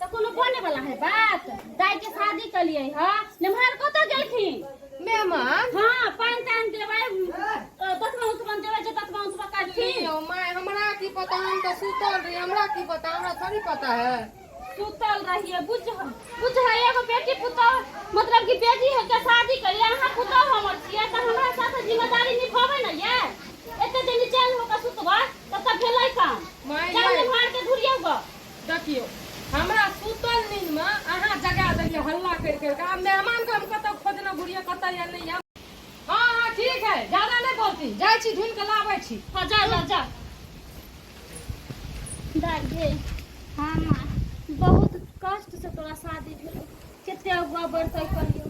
तऽ कोनो बने वाला है बात दाई के शादी कलिए ह निम्हार कतऽ गेलखिन मेहमान हाँ पान तान देबै दसमा उसमा देबै जे दसमा उसमा करथिन यौ माय हमरा की पता हम तऽ सुतल रही हमरा की पता हमरा थोड़ी पता है सुतल रहिए बुझ बुझ है एगो बेटी पुतौ मतलब कि बेटी है के शादी करिए अहाँ पुतौ हमर छियै तऽ हमरा साथ जिम्मेदारी निभाबै ने ये एते दिन चैन होकर सुतबै तब तक भेलै काम माय चल यै निम्हार के धुरियौ गऽ देखियौ हमरा सुतल नींदमे अहाँ जगा देलियै हल्ला करि करि कऽ आब मेहमानके हम कतऽ खोजने घुरियै कतऽ या नहि या हँ हँ ठीक है ज्यादा नहि बोलती जाइ छी ढूंढ कऽ लाबै छी हँ जा जा जा दादी हाँ माँ बहुत कष्ट से तोरा शादी भेलो कते अगुआ बढ़तै कहियो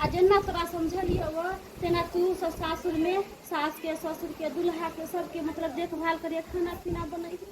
आ जेना तोरा समझलियौ वो तेना तू सब सासुर में सास के ससुर के दुल्हा के सबके मतलब देखभाल करिए खाना पीना बनैबी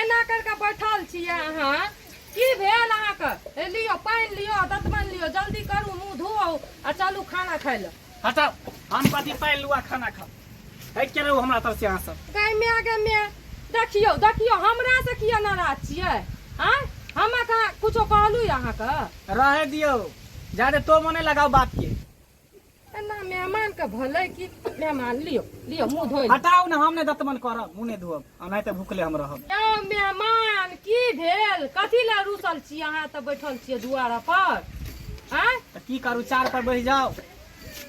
एना कर के बैठल छिए अहाँ की भेल अहाँके लियो पानि लियो दतमन लियो जल्दी करू मुँह धो आ चलू खाना खाय लए हटाओ हम कथी पानि लुआ खाना खा हटि के रहू हमरा तरफ से अहाँ सब गै मै गै मै देखियौ देखियौ हमरा से किया नाराज छियै आ हमरा कहाँ कुछो कहलू अहाँके रहे दियौ जादे तो मने लगाओ बात के एना मेहमान के भले की मेहमान लियो लियो मुंह धोई हटाओ ना हम ने दतमन करब मुंह ने धोब आ नहीं त भूखले हम रहब यौ मेहमान की भेल कथी ला रूसल छी अहाँ तऽ बैठल छियै दुआरा पर आँय त की करू चार पर बैठ जाओ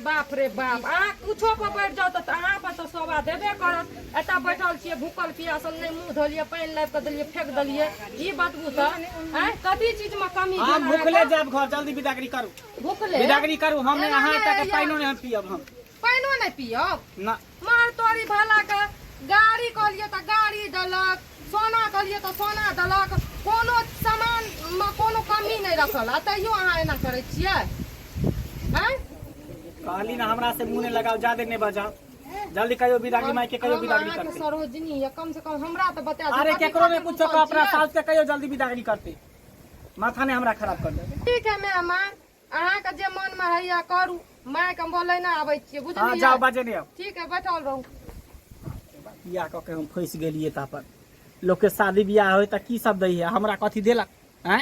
बाप रे बाप अहाँ कुछो पर बैठ जाउ तऽ अहाँ पर तऽ शोभा देबे करत एतऽ बैठल छियै भूखल पियासल नहि मुंह धोलियै पानि लाबि कऽ देलियै फेक देलियै ई बतबू तऽ आँय कथी चीजमे कमी हम भेल भूखले अहाँके? जाब घर जल्दी विदा करी करू भुखले बिदागरी करू हम नहि अहाँ एतऽ के पानिओ नहि हम पियब हम पानिओ नहि पियब ना मार तोरी भला के गाड़ी कहलियै तऽ गाड़ी देलक सोना कहलियै तऽ सोना देलक कोनो सामान मे कोनो कमी नहि रखल आ तैयो अहाँ एना करै छियै आँय कहली ना हमरा से मुंह नहि लगाओ जादे नहि बजाओ जल्दी कहियो बिदागरी माई के कहियो हम बिदागरी अहाँके करते सरोजनी यऽ कम से कम हमरा तऽ बता दिअ, अरे कथी केकरो खातिर नहि कुछ पूछल कहो अपना छियै? साल से कहियो जल्दी बिदागरी करते माथा ने हमरा खराब कर दे ठीक है मैं माँ अहाँ के जे मन में है या करू माय के बोले ना आवे छिए बुझलिए हां जाओ बाजे ने ठीक है बैठल रहू बियाह क के हम फैस गेलिए ता पर लोग के शादी बियाह होय त की सब दई है हमरा कथि देलक हैं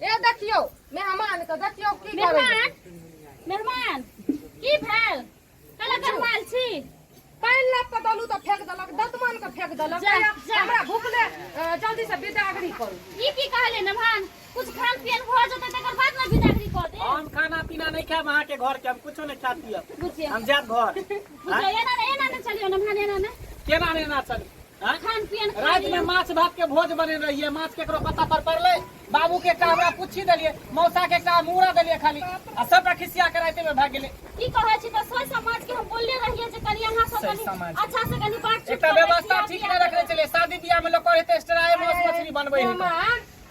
ए देखियो मेहमान के देखियो की करै मेहमान मेहमान की भेल कला करवाल छी पानि लाग के दलू तऽ फेक देलक दतमन के फेक देलक जा, कहैया, जा। हमरा भूखले अ, जल्दी से बिदागरी करू ई की कहले मेहमान कुछ खान पियन भ जते तकर बाद ना बिदागरी क दे हम खाना पीना नहीं खाएब अहाँ के घर के हम कुछो नहीं खा पियब बुझिए हम जाएब घर बुझिए एना ना एना ना चलियो मेहमान एना ना केना ने ना चली खान पियन रात में माछ भात के भोज बने रहिए माछ केकरो पता पर पड़ले बाबू के का हमरा पूछी देलिए मौसा के का मुड़ा देलिए खाली आ सबटा खिसिया के राते में भाग गेले की कहै छी त सोई समाज के हम बोलले रहिए जे कनी अहाँ सब सोई कनी समाज। अच्छा से कनी बात एकटा व्यवस्था ठीक नै रखले चले शादी बियाह में लोग कहते एक्स्ट्रा माछ मछली बनबै है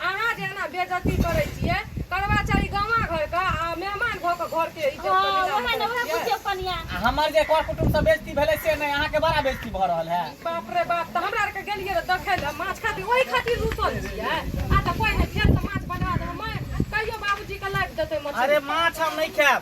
अहाँ जे एना बेजती करै छियै कर्मचारी गामा घर के आ मेहमान भऽ कऽ घर के इज्जत हँ, के ओहे न, ओहे बुझियौ कनिया। आ हमर जे कर कुटुम से बेइज्जती भेलै से नहि अहाँके बड़ा बेइज्जती भऽ रहल है बाप रे बाप तऽ हमरा आरके गेलियै रऽ देखै लए माछ खातिर ओहि खातिर रुसल छियै आ तऽ कोइ नहि फेर तऽ माछ बनवा देबै माय कहियो बाबूजी के लाबि देतै मछली अरे माछ हम नहि खायब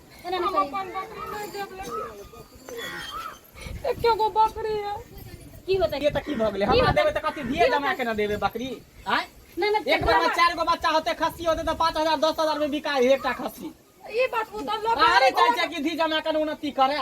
एके गो बकरी है की होता है ये तक की भग ले हमरा देबे त कथि दिए जमा के न देबे बकरी आय एक बार चार गो बच्चा होते खस्सी होते तो पाँच हजार दस हजार में बिकाए एकटा खस्सी ई बात वो तो लोग अरे चाचा की धी जमा कर उन्नति करे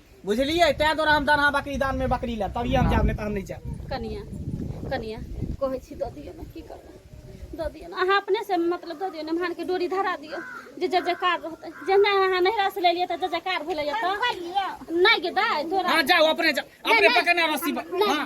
बुझलियै तै द्वारा हम दाना बकरी दान में बकरी ले तभी हम जाब नै त हम नै जाब कनिया कनिया कहै छी दऽ दियौ ने की करबै दऽ दियौ ने अहाँ अपने से मतलब दऽ दियौ ने भान के डोरी धरा दियौ जे जय जयकार रहतै जे नहि अहाँ नैहरा से लेलियै तऽ जय जयकार भेलै एतऽ नहि गेदा तोरा हां जाओ अपने जाओ अपने पकड़ना रस्सी पर हां